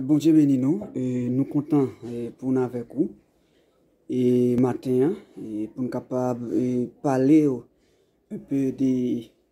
Bondye beni nou, nou kontan pou n avèk ou maten an pou n kapab pale w enpe de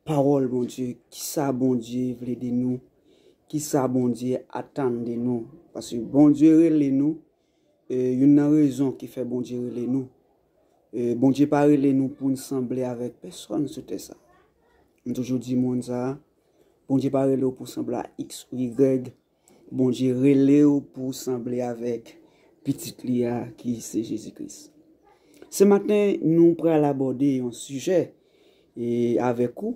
pawòl Bondye, kisa Bondye vle de nou, kisa Bondye atann de nou, paske Bondye rele nou E youn nan rezon ki fè Bondye rele nou, e Bondye pa rele nou pou n sanble avèk pèsòn sou tè sa. M toujou di moun sa, Bondye pa rele w pou sanble a X ou Y, Bondye rele w pou w sanble avèk pitit li a ki se Jezi Kris. Se maten nou pral abòde yon sijè e avèk ou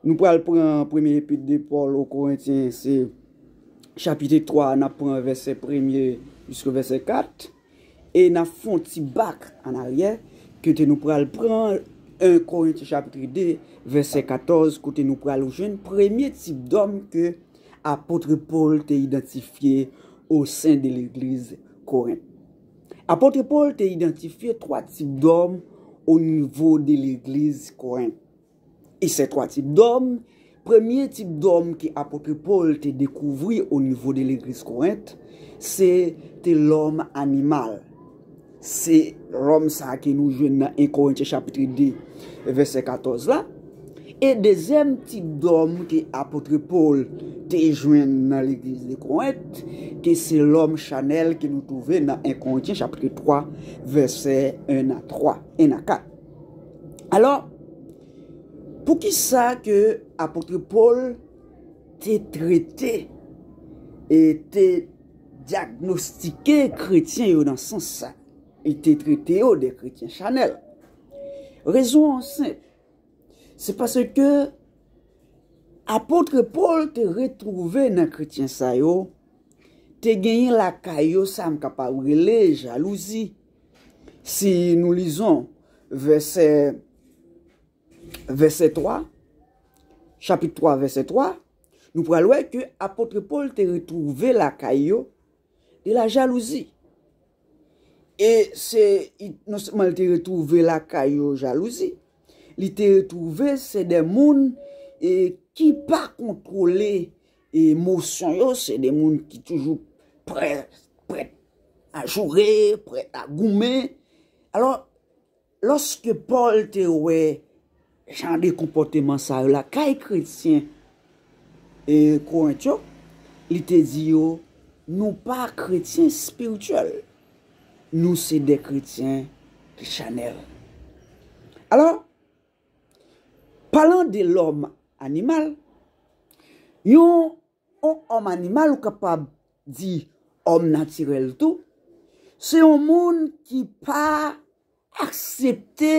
Nou pral pran premye epit de Pòl o Korentyen se chapite 3 a, n ap pran vèsè premye jiske vèsè 4 e n ap fè yon ti bak an aryè kote nou pral pran 1 Korentyen chapitre 2 vèsè 14 kote nou pral jwenn premye tip dòm ke apotre Pòl te idantifye o sen de legliz Korent. Apotre Pòl te idantifye 3 tip dòm o nivo de legliz Korent. E se twa tip dòm, premye tip dòm ke apotre Pòl te dekouvri o nivo de legliz Korent, se te lòm animal. Se lòm sa ke nou jwenn nan 1 Korentyen chapitre 2 vèsè 14 la. E dezyèm tip dòm ke apotre Pòl te jwenn nan legliz de Korent, ke se lòm chanèl ke nou twouve nan 1 Korentyen chapitre 3 vèsè 1 a 3, 1 a 4. Alò, pou ki sa ke apotre Pòl te trete e te dyagnostike kretyen yo nan sans sa? Li te trete yo de kretyen chanèl. Rezon an senp, se paske apotre Pòl te retwouve nan kretyen sa yo te genyen lakay yo sa m kapab rele jalouzi. Si nou lizon vèsè 3, chapit 3 vèsè 3, nou pral wè ke apotre Pòl te retwouve lakay yo de la jalouzi. E se non sèlman li te retwouve lakay yo jalouzi, li te retwouve se de moun ki pa kontwole E mosyon yo se de moun ki toujou prèt, prèt a joure, prèt a goumen. Alò, lòske Pòl te wè jan de konpòteman sa yo la kay kretyen e Korent yo, li te di yo, nou pa kretyen espirityèl, nou se de kretyen ki chanèl. Alò. Palan de lòm animal, yon òm animal ou kapab di òm natirèl tou, se yon moun ki pa aksepte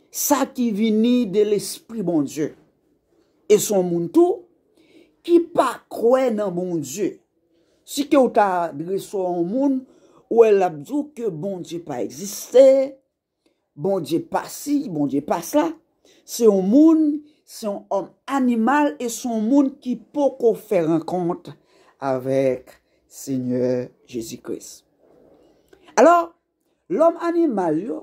sa ki vini de lespri Bondye. E se yon moun tou ki pa kwè nan Bondye. Si ke ou ta adrese yon moun, ou wè l ap di w ke Bondye pa egziste, Bondye pasi, Bondye pasa, se yon moun, se yon òm animal e se yon moun ki poko fè rankont avèk Senyè Jezi Kris. Alò, lòm animal yo,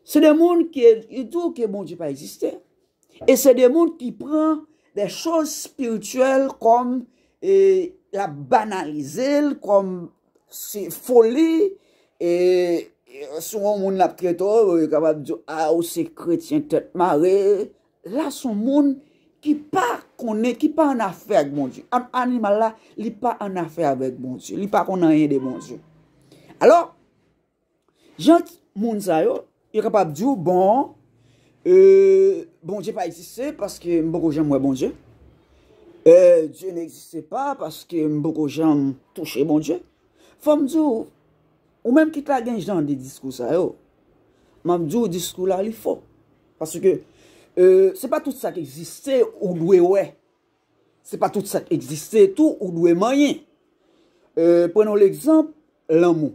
se de moun ki di ou ke Bondye pa egziste e se de moun ki pran de chòz espirityèl kòm e la banalize l, kòm Se foli e si yon moun ap trete w, yo kapab di w, a ou se kretyen tèt mare, la se yon moun ki pa konnen, ki pa annafè ak Bondye. Animal la, li pa annafè avèk Bondye, li pa konn anyen de Bondye. Jan moun sa yo, yo kapab di w bon Bondye pa egziste paske m poko janm wè Bondye. Dieu n'existe pas paske m poko janm touche Bondye. Fò m di w, ou menm ki ta gen jan de diskou sa yo, m ap di w diskou la li fo. Paske se pa tout sa ki egziste ou dwe wè. Se pa tout sa k egziste tou ou dwe manyen. Pran yon legzanp, lanmou.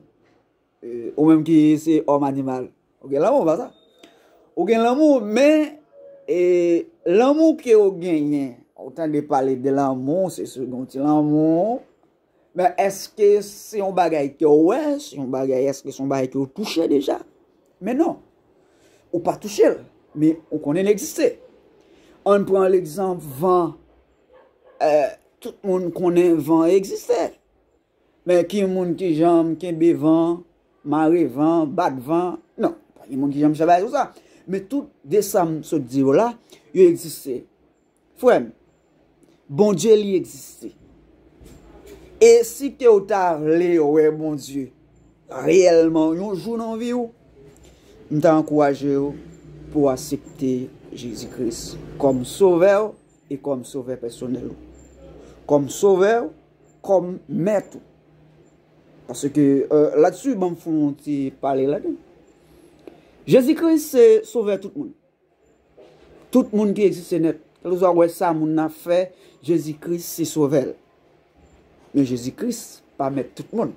Ou menm ki se òm animal, ou gen lanmou, pa sa? Ou gen lanmou, men, lanmou ke ou genyen, ou tande pale de lanmou, se sou yon ti lanmou, Men eske se yon bagay ke ou wè, se yon bagay eske se yon bagay ke ou touche deja? Men non, ou pa touche l, men ou konnen l egziste. An n pran legzanp van, tout moun konnen van egziste. Men ki moun ki janm kenbe van, mare van, bat van, non, pa gen moun ki janm travay sou sa. Men tout de sa m sot di yo la, yo egziste. Frèm, Bondye li egziste. E si ke ou ta vle wè Bondye reyèlman yon jou nan vi ou, m ta ankouraje ou pou w asepte Jezi Kris kòm sovè ou e kòm sovè pèsonèl ou. Kòm sovè ou, kòm mèt ou. Paske latsu banm fon ti pale la. Jezi Kris se sovè tout moun. Tout moun ki egziste nèt, kèlkeswa ou wè sa moun nan fè, Jezi Kris se sovè l. Men Jezi Kris pa mèt tout moun.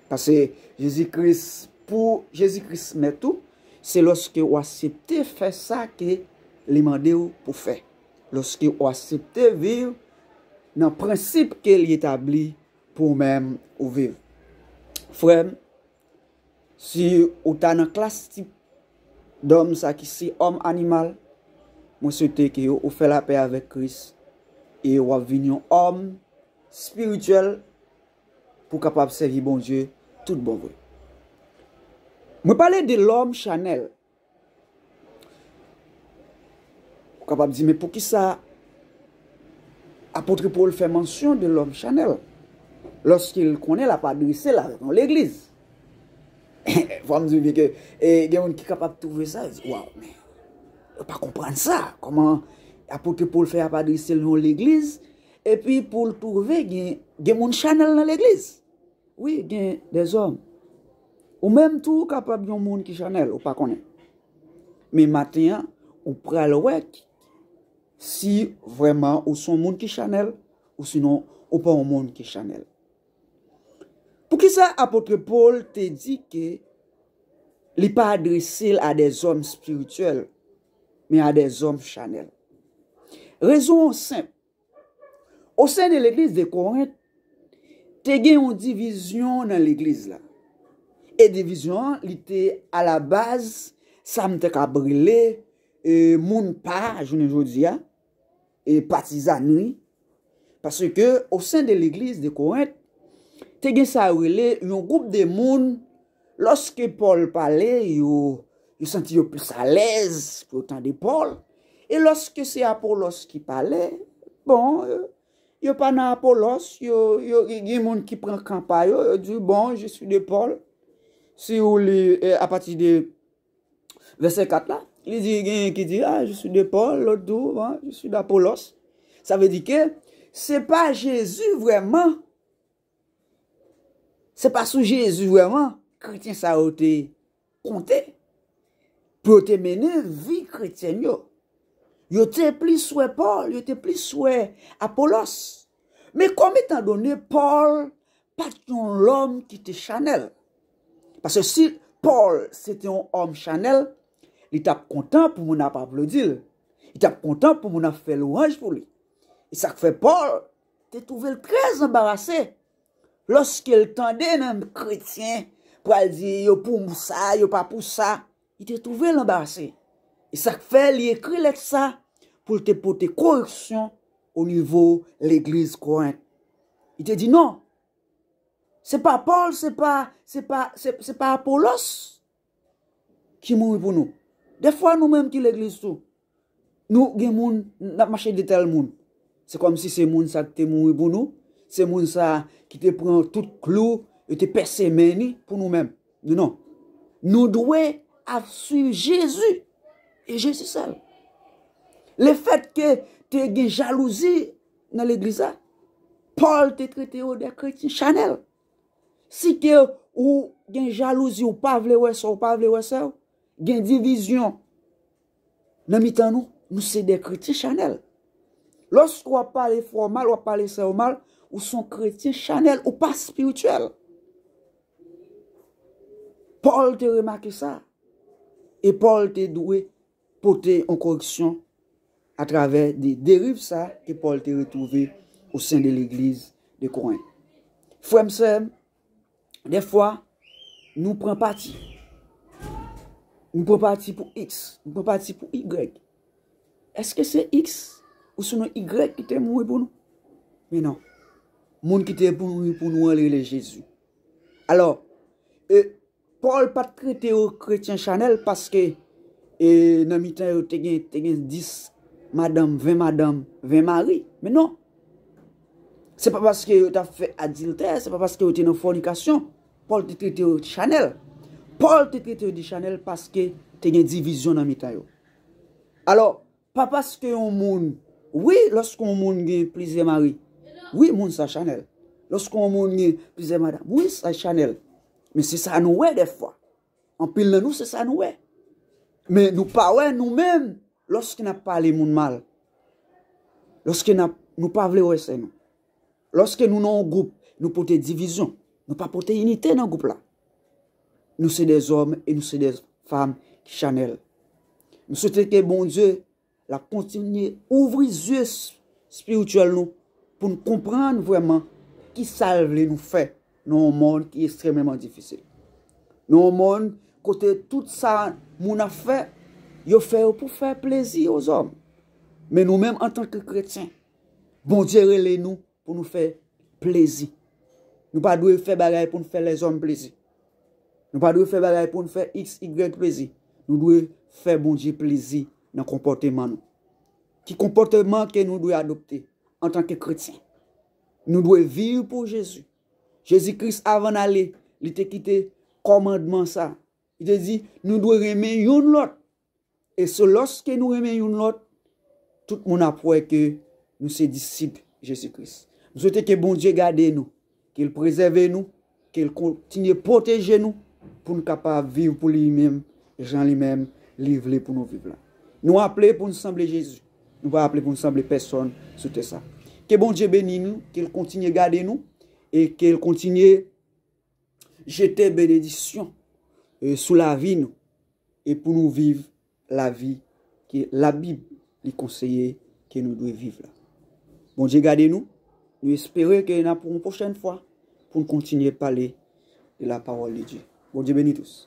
Pase Jezi Kris, pou Jezi Kris mèt ou, se lòske ou asepte fè sa ke li mande ou pou fè. Lòske ou asepte viv nan prensip ke li etabli pou ou menm ou viv. Frè m, Si ou ta nan klas tip dòm sa ki se òm animal, mwen swete ke ou fè lapè avèk Kris e ou ap vin yon òm spirityèl pou kapab sèvi Bondye tout bon vre. Mwen pale de lòm chanèl. Ou kapab di men poukisa apotre Paul fè mansyon de lòm chanèl lòske l konnen l ap adrese l avèk yon legliz? Fò m di w ke gen moun ki kapab twouve sa, yo di waw men yo pa konprann sa, kòman apotre Paul fè ap adrese l yon legliz epi pou l twouve gen moun chanèl nan legliz? Wi gen dezòm. Ou menm tou ou kapab yon moun ki chanèl ou pa konnen. Men maten an, ou pral wè si vreman ou son moun ki chanèl ou sinon ou pa yon moun ki chanèl. Poukisa apotre Paul te di ke li pa adrese l a de zòm spirityèl men a de zòm chanèl? Rezon an senp, O sen de legliz de Korent, te gen yon divizyon nan legliz la. E divizyon an, li te a la baz, sa m te kab rele, moun pa, jounen jodi a, e patizanri. Pase ke, o sen de legliz de Korent, te gen sa yo rele, yon gwoup de moun, Lòske Pòl pale, yo santi yo plis alèz pou yo tande Pòl, e lòske se Apolòs ki pale, bon, yo pa nan Apolòs, yo gen moun ki pran kan pa yo, yo di, bon, je suis de Pòl, si ou li apati de vèsè 4 la, li di, gen yon ki di, a, je suis de Pòl, lòt di, je suis d'Apolòs, sa vle di ke, se pa Jezi vrèman Se pa sou Jezi vrèman kretyen sa yo te konte pou yo te mennen vi kretyen yo. Yo te plis wè Pòl, yo te plis wè Apolòs. Men kòm etan done Pòl pa t yon lòm ki te chanèl. Pase si Pòl se te yon òm chanèl, li t ap kontan pou moun ap aplodi l. Li t ap kontan pou moun ap fè lwanj pou li. E sa k fè Pòl? te twouve l trè anbarase lòske l tande menm kretyen pral di yo pou sa, yo pa pou sa, li te twouve l anbarase. E sa k fè li ekri lèt sa pou l te pote koreksyon onivo legliz Korent. Li te di, Non, se pa Pòl, se pa Apolòs. ki mouri pou nou. Dè fwa nou menm ki legliz tou, nou gen moun, n ap mache di tèl moun. Se kòm si se moun sa ki te mouri pou nou, se moun sa ki te pran tout klou, yo te pèse men ni pou nou menm. Men non. Nou dwe ap swiv Jezi, e Jezi sèl. Le fèt ke te gen jalouzi nan legliz la, Pòl te trete yo de kretyen chanèl. Site ou gen jalouzi ou pa vle wè sè ou pa vle wè sè ou gen divizyon nan mitan nou nou se de kretyen chanèl lòske ou ap pale frè ou mal ou ap pale sè ou mal ou son kretyen chanèl ou pa spirityèl Paul te remake sa e Paul te dwe pote yon koreksyon atravè de deriv sa ke Pòl te retwouve o sen de legliz de Korent. Frè m, sè m, dèfwa nou pran pati. Nou pran pati pou X, nou pran pati pou Y. Eske se X ou si non Y ki te mouri pou nou? Men non. Moun ki te pou mouri pou nou an li rele Jezi. Alò, e, Paul pat trete yo kretyen chanel paske e nan mitan yo te gen te gen 10 madanm 20 madanm 20 mari men non se pa paske yo tap fè adiltè se pa paske yo te nan fònikasyon Paul te trete yo chanel Paul te trete yo de chanel paske te gen divizyon nan mitan yo alò Pa paske yon moun Wi lòske yon moun gen plizyè mari Wi moun sa chanèl Lòske yon moun gen plizyè madam Wi sa chanèl Men se sa nou wè dèfwa Anpil nan nou se sa nou wè Men nou pa wè nou menm Lòske n ap pale moun mal Lòske n ap Nou pa vle wè sè nou Lòske nou nan yon gwoup, nou pote divizyon. Nou pa pote inite nan gwoup la. Nou se de zòm e nou se de fam ki chanèl. M swete ke Bondye la kontinye ouvri zye espirityèl nou pou n konprann vrèman ki sa l vle nou fè nan yon mond ki estrememan difisil. Nan yon mond kote tout sa moun ap fè, yo fè yo pou fè plezi o zòm. Men nou menm antanke kretyen, Bondye rele nou pou nou fè plezi. Nou pa dwe fè bagay pou nou fè lèzòm plezi. Nou pa dwe fè bagay pou nou fè x, y plezi. Nou dwe fè Bondye plezi nan konpòteman nou. Ki konpòteman ke nou dwe adopte antanke kretyen? Nou dwe viv pou Jezi. Jezi Kris avan ale, li te kite kòmandman sa. Li te di, nou dwe renmen youn lòt. E se lòske nou renmen youn lòt, tout moun ap wè ke nou se disip Jezi Kris. M swete ke Bondye gade nou, ke l prezève nou, ke l kontinye pwoteje nou pou n kapab viv pou li menm jan li menm li vle pou nou viv la. Nou aple pou n sanble Jezi, nou pa aple pou n sanble pèsòn sou tè sa. Ke Bondye beni nou, ke l kontinye gade nou e ke l kontinye. jete benediksyon sou lavi nou e pou nou viv lavi ke labib li konseye ke nou dwe viv la. Bondye gade nou, nou espere ke nan pou yon pwochèn fwa pou nou kontinye pale de la pawòl de Dye. Bondye beni tous.